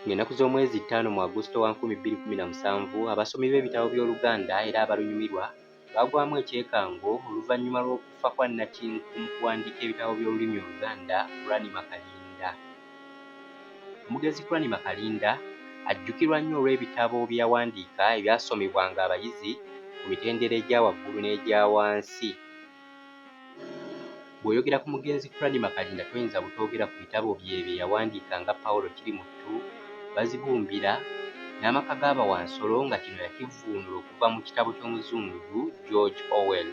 Ng'ennaku z'omwezi ttaano mu Agusito wa nkumi bbiri kkumi na musanvu, abasomi b'ebitabo by'Oluganda era abalunyumirwa baagwamu ekyekango oluvannyuma lw'okufa kwa nnakinku mu kuwandiika ebitabo by'olulimi Oluganda, Kuranima Kalinda. Omugenzi Kuranima Kalinda ajjukirwa nnyo olw'ebitabo bye yawandiika ebyasomebwanga abayizi ku mitendera egya waggulu n'egya wansi. Bw'oyogera ku mugenzi Cranmer Kalinda toyinza butoogera ku bitabo bye bye yawandiika nga Paul Kirimuttu, Bazibumbira, n'amaka ga Bawansolo nga kino yakivvuunula okuva mu kitabo ky'Omuzungu George Orwell.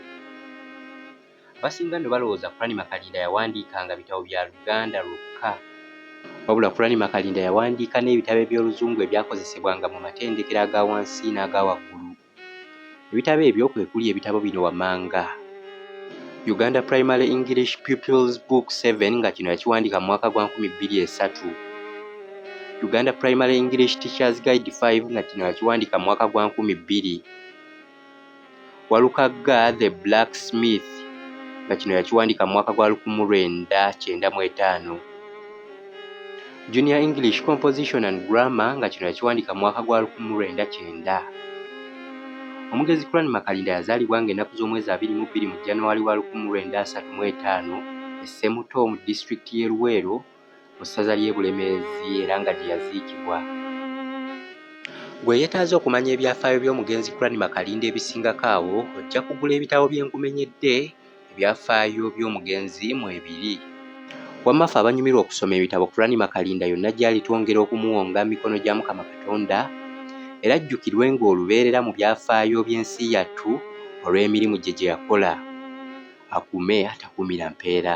Abasinga nno balowooza Cranmer Kalinda yawandiikanga bitabo bya Luganda lwokka. Wabula Cranmer Kalinda yawandiika n'ebitabo eby'Oluzungu ebyakozesebwanga mu matendekero aga wansi n'aga waggulu. Ebitabo ebyo kwe kuli ebitabo bino wammanga. Uganda Primary English Pupils Book 7 nga kino yakiwandiika mu mwaka gwa nkumi bbiri esatu. Uganda Primary English Teachers Guide 5 nga kino yakiwandiika mu mwaka gwa nkumi bbiri. Walukagga The Black Smith nga kino yakiwandiika mu mwaka gwa lukumu lwenda kyenda mu etaano. Junior English Composition and Grammar nga kino yakiwandiika mu mwaka gwa 1900. Omugezi Kuran Makalinda yazaalibwa ng'ennaku z'omwezi abiri mu bbiri mu January wa 1935 e Ssemuto mu disitulikiti y'e Luweero mu ssaza ly'e Bulemeezi era nga gye yaziikibwa. Gwe yeetaaze okumanya ebyafaayo by'omugenzi Kuran Makalinda ebisingako awo ojja kugula ebitabo bye nkumenyedde Ebyafaayo by'omugenzi mwe biri. Wamma ffe abanyumirwa okusoma ebitabo Kurani Makalinda yonna gyali twongera okumuwonga mu mikono gya Mukama Katonda era ajjukirwenga olubeerera mu byafaayo by'ensi yattu olw'emirimu gye gyeyakola. Akuume atakuumira mpeera.